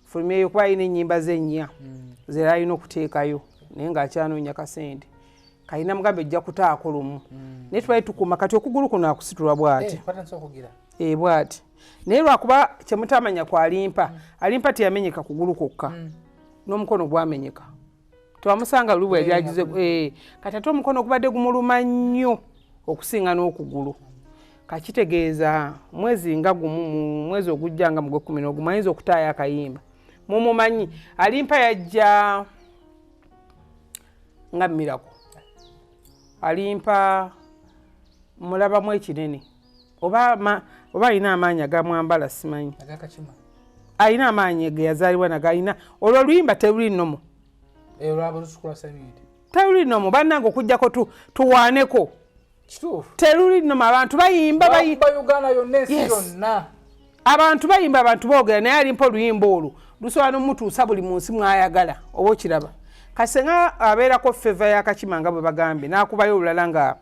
fulumyeyo kuba alina enyimba ze nnya hmm. zera alina okuteekayo naye nga akyanoonya kasente kalina mugambe ejja kutaako lumu hmm. naye tubali tukuma kati okugulu kuno akusitulwa bwati eh, e eh, bwati naye lwakuba kyemutamanya kwalimpa hmm. alimpa teyamenyeka kugulu kwokka n'omukono gwamenyeka twamusanga luli bweyaliagize eh, eh, kati ate omukono ogubadde gumuluma nnyo okusinga n'okugulu kakitegeeza mwezi nga gumu mu mwezi ogujja nga mugwe kumi nogumu ayinza okutaayo akayimba mumumanyi alimpa yajja nga mirako alimpa mulabamu ekinene oba ma, oba alina amaanyi agamwambala simanyi alina amaanyi ge yazaalibwa nago alina olwo oluyimba teruli nomo eh, teruli nomo bannange okujjako tu, tuwaaneko teruli nomo abantu bayimba abantu bayimba abantu boogera naye alimpa oluyimba olwo lusobola nomutuusa buli munsi mwayagala oba okiraba kasenga abeerako feva yakakima nga bwe bagambye n'akubayo olulala nga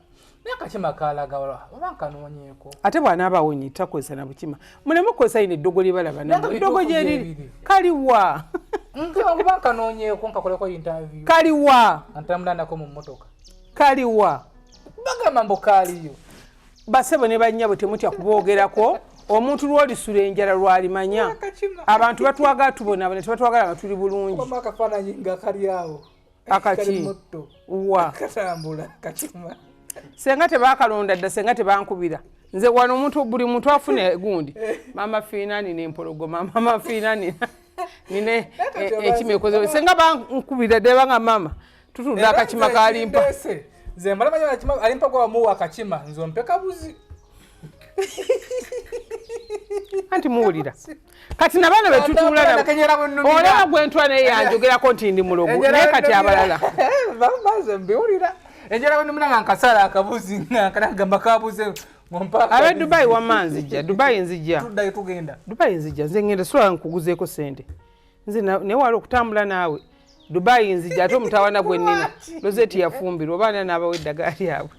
nakakima kalagawala oba nkanoonyeeko ate bw'anaaba awonye takozesa na bukima muleme kukozesa yino eddogo lye balaba namu eddogo gye liri kaliwa nkuba nkanoonyeeko nkakoleko intaviyu kaliwa antamulandako mu mmotoka kaliwa bagamba mbu kaaliyo basebo ne bannyabo temutya kuboogerako omuntu lwolisula enjala lwalimanya abantu batwagala tubonabona tebatwagala nga tuli bulungi akaki wa katambula kachuma senga tebakalonda dda senga tebankubira nze wano omuntu buli muntu afuna gundi mama fiina nina empologoma mama fiina nina nina e- e- ekima ekozeo senga bankubira dde banga mama tutunda akakima kalimpa nze mbala manya akima alimpa kwa muwa akakima nze ompeka buzi anti muwulira kati nabaana betutuulaolaba gwentwa naye yanjogerako nti ndi mulogo naye kati abalala bamaze mbiwulira enjala wenumuna nga nkasala akabuzi nga kanagamba kabuze abe dubai wama nzija dubai nzija dubai nzija nze ngenda sola nkuguzeeko sente nze naye wali okutambula naawe dubai nzija ate omutawana gwenina lozeti yafumbirwa obaana naabawo eddagala lyabwe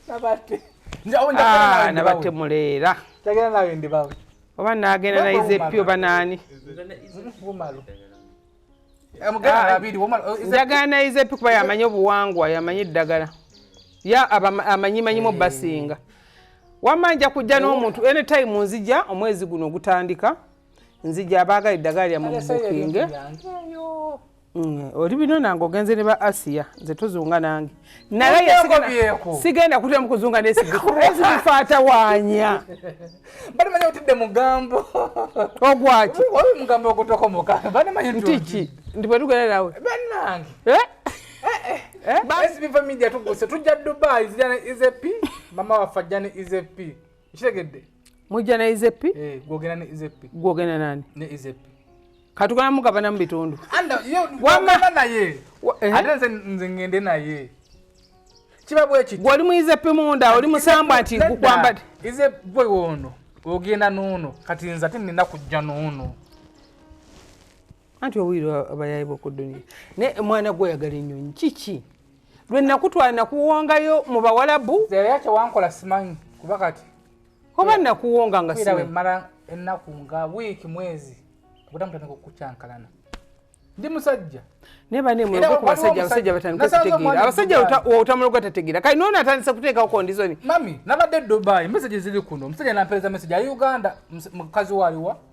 nabatte ah, muleera oba nagenda nayiza epyo banani njagala nayiza epyo kuba yamanyi obuwangwa yamanyi eddagala ya amanyimanyimu basinga wamma nja kujja n'omuntu anytime nzija omwezi guno ogutandika nzija abaagala eddagala lyamubukinge Mm, oli bino nange ogenze ne ba asiya nze tuzunga nange naye sigenda kutya mukuzunga nesibifaatawanya banamanya otidde mugambo ogwaki mugambo ogutokomoka banamanya ntiki ndi bwe tugenda nawe banange eh? Eh, eh. esibifa media tuguse tujja dubai izp mama waffe ajja ne izp kitegedde mujja na izepi eh, gwogera ne izepi gwogenda nani ne izepi katugana mugabana mu bitundu wamana naye eh? ate nze nze ngende naye kiba bwekiti gwoli mu izepi munda oli musambwa nti gukwambade ize gwe wono ogenda nuno kati nze ate nina kujja nuno anti owulira abayaye boku duniya naye omwana gwe oyagala enyonyi kiki lwe nakutwala nakuwongayo mu bawalabu zeyatewankola simanyi kuba kati oba nakuwonga nga siwemala ennaku nga wiiki mwezi okudamu tandika okukyankalana ndi musajja naye banemuloga ku basajja abasajja batandika okutegeera abasajja otamuloga tategeera kali noona atandise kuteekawo kondizoni mami nabadde dubai meseji ziri kuno omusajja nampereza meseji ali uganda mukazi waliwa